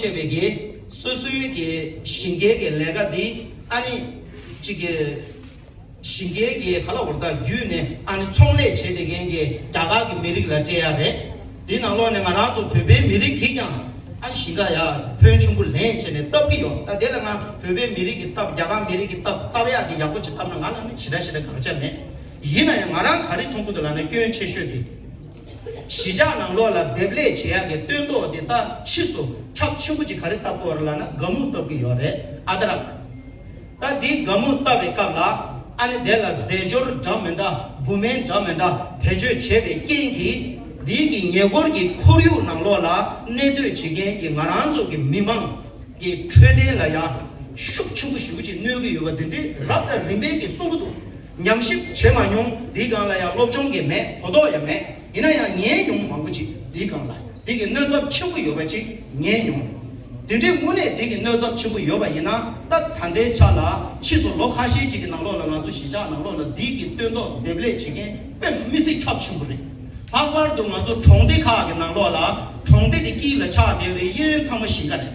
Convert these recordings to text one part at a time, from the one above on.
བྱས་པའི་གེ་སོ་སོའི་གེ་ཞིང་གེ་གེ་ལས་ཀ་དེ་ཨ་ནི་གཅིག་གེ་ཞིང་གེ་གེ་ག་ལ་བོར་ཐག་རྒྱུད་ནས་ཨ་ནི་ཚོང་ལས་བྱེད་དེ་མཁན་གེ་རྒྱ་གར་གི་མི་རིགས་ལ་སྤྲད་ཡ་རེད་དེ་ནང་ལོག་ནས་ང་རང་ཚོ་བོད་པའི་མི་རིགས་གིས་ཀྱང་ཨ་ནི་ཞིང་ག་ཡ་ཕོན་ཆུང་པོ་ལེན་བྱས་ནས་བཏབ་གི་ཡོད་ད་དེ་ལ་ང་བོད་པའི་མི་རིགས་གིས་བཏབ་རྒྱ་གར་མི་རིགས་གིས་བཏབ་བཏབ་ཡ་དེ་ཡག་པོ་ཅིག་བཏབ་ན་ང་ལ་ནི་ཞེ་དྲག་ཞེ་དྲག་དགག་བྱ་མེད་ཡིན་ན་ཡང་ང་རང་ག་རེ་མཐོང་ཁུལ་དུ་ལགས་ན་སྐྱོན་ཆེ་ཤོས་དེ། གཞིས་ཆགས་ནང་ལོགས་ལ་འདེབས་ལས་བྱེད་ཡག་གི་སྟོན་ཐོག་དེ་དག་ཕྱིས་སུ་ཁྲག་ཆེན་པོ་གཅིག་ག་རེ་བཏབ་སྐོར་ལ་ན་དགའ་མོ་བཏབ་གི་ཡོད་རེད་ཨ་ད་རག། ད་འདི་དགའ་མོ་བཏབ་པའི་སྐབས་ལ་ཨ་ནི་དེ་ལ་རྫས་སྦྱོར་འདྲ་མི་འདྲ་བུ་སྨན་འདྲ་མི་འདྲ་བེད་སྤྱོད་བྱས་པའི་རྐྱེན་གྱིས་འདི་གི་ཉེ་འཁོར་གྱི་ཁོར་ཡུག་ནང་ལོགས་ལ་གནས་སྡོད་བྱེད་མཁན་གྱི་ང་རང་ཚོ་གི་མི་མང་གི་འཕྲོད་བསྟེན་ལ་ཡང་ཤུགས་ཆེན་པོ་ཞུགས་ཅིག་གནོད་གི་ཡོད་པ་འདི་འདྲི་རབས་དང་རིམ་པས་གི་གསུང་གི་འདུག་ཉམས་ཞིབ་བྱེད་མ་མྱོང་འདི་སྒང་ལ་ཡང་སློབ་སྦྱོང་གི་མེད་གོ་རྟོགས་ཡང་མེད་ཡིན་ན་ཡང་ཉན་མྱོང་མང་པོ་ཅིག་འདི་སྒང་ལ་འདི་གི་སྣོད་ཚབས་ཆེན་པོ་ཡོད་པ་ཅིག་ཉན་མྱོང། འདི་འདྲའི་དངོས་གནས་འདི་གི་སྣོད་ཚབས་ཆེན་པོ་ཡོད་པ་ཡིན་ན་ད་ད་ལྟའི་ཆ་ལ་ཕྱིས་སུ་ལོ་ཁ་ཤས་ཅིག་གི་ནང་ལོགས་ལ་ང་ཚོ་གཞིས་ཆགས་ནང་ལོགས་ལ་འདི་གི་སྟོན་ཐོག་འདེབས་ལས་བྱེད་མཁན་དཔེ་མི་སྲིད་ཁྱབ་ཆེན་པོ་རེད། ལྷག་པར་དུ་ང་ཚོ་གྲོང་སྡེ་ཁག་གི་ནང་ལོགས་ལ་གྲོང་སྡེ་དེ་དཀྱིལ་ལ་ཆགས་བསྡད་པའི་གཡས་གཡོན་ཚང་མ་གཞིས་ཀ་རེད།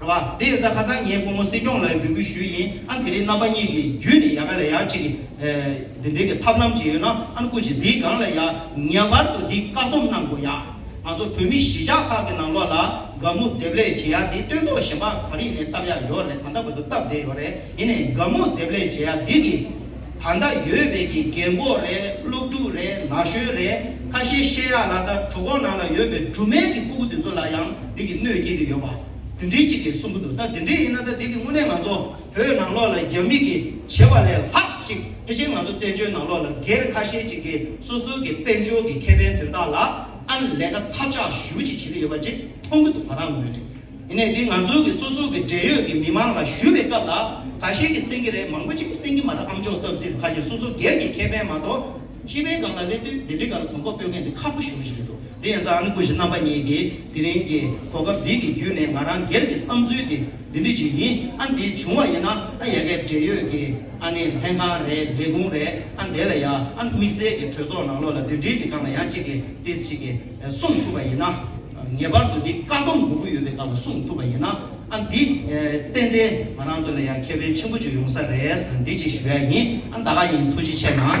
རེད་བ། དེ་ཡོད་ཚ་ཁ་སང་ངས་ཁོང་མོ་སྲིད་སྐྱོང་ལའི་འབོད་སྐུལ་ཞུས་ཡིན་ཨང་དེ་རིང་རྣམ་པ་གཉིས་ཀྱི་རྒྱུད་ནས་ཡ་ག་ལས་ཡག་ཅིག་འདི་འདྲའི་གི་ཐབས་ལམ་ཅིག་ཡོད་ན་ཨང་བསྐུར་ཅིག་འདིའི་སྒང་ལ་ཡ་ངེས་པར་དུ་འདི་བཀག་སྡོམ་གནང་དགོས་ཡ། ང་ཚོ་བོད་མི་གཞིས་ཆགས་ཁག་གི་ནང་ལོག་ལ་དགའ་མོ་དེབ་ལས་བྱེད་ཡ་འདི་སྟོན་ཐོག་ཞེན་པ་ག་རིག་ནས་བཏབ་ཡ་ཡོད་རེད་ད་ལྟ་བ་དུ་བཏབ་བསྡད་ཡོད་རེད་ཡིན་ནས་དགའ་མོ་དེབ་ལས་བྱེད་ཡ་འདི་གི་ད་ལྟ་ཡོད་བས་ཀྱི་རྒན་གོག་རེད་སློབ་ཕྲུག་རེད་ན་གཞོན་རེད་ཁ་ཤས་བཤད་ཡག་ལ་ད་གྲོ་གོག་ནང་ལ་ཡོད་པའི་སྦྲུམ་མའི་གི་སྤུ་གུ་དེ་ཚོ་ལ་ཡང་འདི་གི་གནོད་སྐྱེལ་གི་ཡོད་པ་དེ་འདྲི་གཅིག་གི་གསུང་གི་འདུག་ད་དེ་འདྲི་ཡིན་ན་ད་འདི་གི་དངོས་གནས་ང་ཚོ་བོད་ནང་ལོག་ལ་རྒྱ་མི་གི་བྱེད་པ་ལས་ལྷགས་ཅིག་དེ་བཞིན་ང་ཚོ་བཙན་བྱོལ་ནང་ལོག་ལ་སྒེར་ཁ་ཤས་ཅིག་གི་སོ་སོའི་གི་དཔལ་འབྱོར་གི་ཁེ་ཕན་དོན་དག་ལ་ཨང་ལས་ཀ་ཐབས་ཆག་ཞུ་ཅིག་བྱེད་གི་ཡོད་པ་ཅིག་མཐོང་གི་འདུག་ང་རང་ངོས་ནས། ཡིན་ནས་འདི་ང་ཚོའི་གི་སོ་སོ་གི་འབྲེལ་ཡོད་གི་མི་མང་ལ་ཞུས་པའི་སྐབས་ལ་ག་ཤེད་གི་སེང་གི་རེད་མང་པོ་ཅིག་གི་སེང་གི་མ་རེད་ཨམ་ཅོག་སྟབས་ཟིར་ཁ་ཤེད་སོ་སོ་སྒེར་གི་ཁེ་ཕན་མ་གཏོགས་སྤྱི་པའི་སྒང་ལ་སླེབས་དུས་འདི་འདི་ག་ལ་གོམ་པ་སྤོས་མཁན་འདི་ཁག་པོ་གཞུང་ཞིག་རེད་དོ་འདི་ཡན་ཙང་ཨ་ནི་སྐུ་ཞི་རྣམ་པ་གཉིས་གི་དེ་རིང་གི་གོ་སྐབས་འདི་གི་བརྒྱུད་ནས་ང་རང་སྒེར་གི་བསམ་ཚུལ་དེ་འདི་འདྲི་ཅིག་ཡིན་ཨ་འདི་བྱུང་བ་ཡིན་ན་ཨ་ཡ་གའི་འབྲེལ་ཡོད་གི་ཨ་ནི་ལྷན་ཁང་རེད་ལས་ཁུངས་རེད་ཨ་འདི་ལ་ཡ་ཨ་དམིགས་བསལ་གི་གྲོས་ཚོགས་ནང་ལོགས་ལ་འདི་འདྲི་གི་སྒང་ལ་ཡང་ཅིག་གི་ཏིས་ཅིག་གི་གསུངས་ཐུབ་པ་ཡིན་ན། ངེས་པར་དུ་འདི་བཀག་སྡོམ་དགོས་ཀྱི་ཡོད་པའི་སྐབས་ལ་གསུངས་ཐུབ་པ་ཡིན་ན་ཨ་འདི། ཏན་ཏན་ང་རང་ཚོ་ལ་ཡང་ཁེ་ཕན་ཆེན་པོ་གཅིག་ཡོང་ས་རེད་ཨ་འདི་གཅིག་ཞུ་ཡ་ཡིན་ཨ་ད་ག་ཡིན་ཐུགས་རྗེ་ཆེ་གནང།